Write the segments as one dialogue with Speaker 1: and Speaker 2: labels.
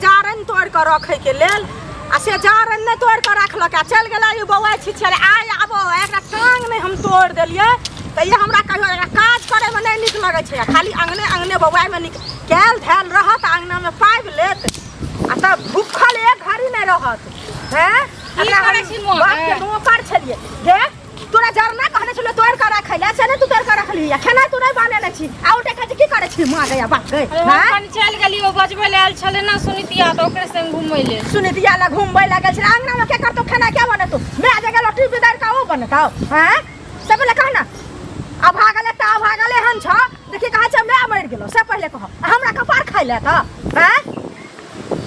Speaker 1: जारनि तोड़ कऽ रखे के लेल आ से जारनि नहि तोड़ कऽ रखलक आ चलि गेलै ई बौआ छी छलै आइ आबो एकरा टांग नहि हम तोड़ देलियै तऽ ये हमरा कहियो एकरा काज करे में नहि नीक लगै छै खाली अंगने अंगने बौआ में नीक कैल धैल रहत अंगना में पाबि लेत आ तब भूखल एक घड़ी नहि रहत हैं की करै
Speaker 2: छी मोन? बाप के नौकर छलियै
Speaker 1: देख तोरा जरना कहने छलो तोर करा खैला से ने तू तोर करा खली या खाना तू नहीं बनेले छी आउ देखे छी की करे छी मां गया बाप गए अरे हम कनी चल गेली
Speaker 2: ओ बजबे ले आयल छले ना सुनितिया तो ओकरे संग घूमै ले सुनि दिया ला घूमबै
Speaker 1: लागल छी अंगना में के करतो खाना क्या बनतो मैं आ जगह लटरी बिदार का ओ बनता हैं सब ले कहना आ भागले ता भागले हम छ देखि कहा छ मैं मर गेलो से पहले कहो आ हमरा कपार खाइले त हैं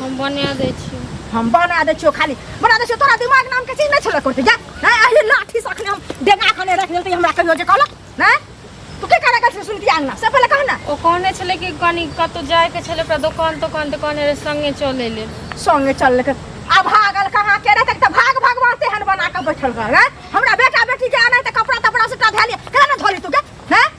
Speaker 2: हम बना दै छी हम बना दै छियो
Speaker 1: खाली बना दै छियो तोरा दिमाग नाम के चीज नै छले करते जा नै अहि लाठी सखने हम डेगा खने रख देते हमरा कहियो जे कहलक नै तू के करे गल सुनती आंगना से पहले कहना ओ कहने छले कि
Speaker 2: कनी कतो जाय के छले पर दुकान दुकान दुकान रे संगे चले ले संगे चल लेके
Speaker 1: आ भागल कहाँ के रे तक त भाग भगवान से हन बना के बैठल रह हमरा बेटा बेटी के आना त कपड़ा तपड़ा से टा धैली केना धोली तू के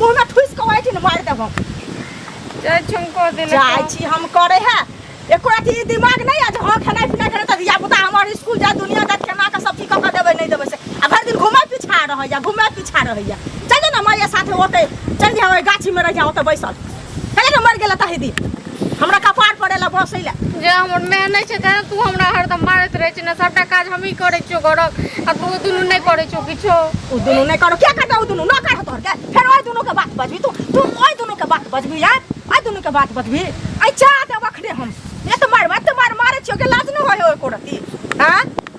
Speaker 1: मुंह में ठुस के बैठी न मार देबो जय
Speaker 2: छुमको दिल जाय छी हम करे
Speaker 1: है एको राती ई दिमाग नहीं आज हां खाना पीना करे त या बुता हमर स्कूल जा दुनिया जात केना के सब चीज क के देबे नहीं देबे से आ भर दिन घुमे पीछा रहैया घुमे पीछा रहैया चल जा ना माया साथे ओते चल जा ओए गाछी में रह जा ओते बैसल कहे के मर गेला ताहि दिन हमरा कपार पड़ेला बसैला जे हमर माय
Speaker 2: नहि छै तेँ तू हमरा हरदम मारैत रहै छी ने सभटा काज हमही करै छियौ घरक आ तू दुनू नहि करै छौ किछो ओ दुनू नहि करो
Speaker 1: क्या करता ओ दुनू न कर तोहर के फेर ओइ दुनू के बात बजबी तू तू ओइ दुनू के बात बजबी यार ओइ दुनू के बात बजबी ऐ चाह दे बखरे हम ये तो मार मत मार मारे छियो के लाज न होय ओइ कोरती हां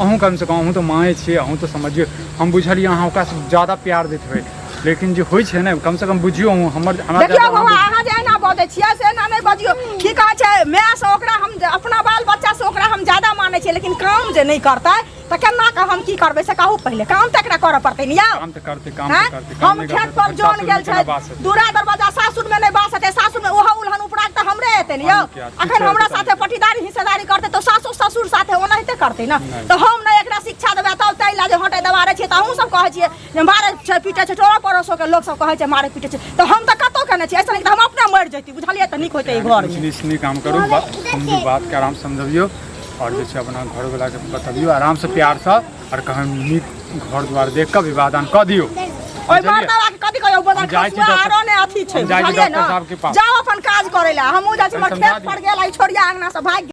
Speaker 3: अहूँ कमसँ कम अहूँ तऽ माँए छियै अहूँ तऽ समझियौ हम बुझलियै अहाँ ओकरासँ ज्यादा प्यार दैत हेबै लेकिन जे होइ छै ने कमसँ कम बुझियौ अहूँ हमर हमरा देखियौ ज्यादा बाबा अहाँ अहाँ जे एना
Speaker 1: बजै छियै से एना नहि बजियौ की कहै छै मायसँ ओकरा हम अपना बाल बच्चासँ ओकरा हम ज्यादा मानै छियै लेकिन काम जे नहि करतै तऽ केना कऽ हम की करबै से कहू पहिले काम तऽ एकरा करऽ पड़तै ने यौ करते काम हैं?
Speaker 3: करते काम हम नहीं खेत करते
Speaker 1: पर तो जोन सासुर गेल में छै केना बास हेतै? दूरा दरवाजा सासुर में नहीं बास हेतै सासुर में ओहो उलहन उपराग तऽ हमरे हेतै ने यौ हम क्या? अखन शिक्षा हमरा हेतै साथे तहन। पटीदारी हिस्सेदारी करतै तऽ सासुर ससुर साथे ओनाहिते करतै ने नहि। तऽ हम नहि एकरा शिक्षा देबै तब ताहि लए जे हटे दबारे छियै तऽ अहूँ सब कहै छियै जे मारै छै पीटे छै टोरो पड़ोसो के लोक सब कहै छै मारै पीटे छै तऽ हम तऽ कतौ केने छियै ऐसा नहि तऽ हम अपने मरि जैती बुझलियै तऽ नीक होइतै ई घर कुछ नीच नीक काम करू बा-
Speaker 3: समझू बात के आराम से समझबियो और जे छै अपना घर वाला के बतबियो आराम से प्यार से आर कहन नीक घर द्वार देख कऽ विवादान कऽ दियौ ओइ बुझलियै? मर्दवा
Speaker 1: के कथी कहै बदर हम जाइ छी खसुआ डॉक्टर- आरो ने अथी छै हम जाइ छी बुझलियै डॉक्टर ने? साहब के पास। जाओ अपन काज करै ला हमहूँ जाइ छी हमर समझा खेत दियौ। पर गेल आइ छोड़िया अंगना से भागि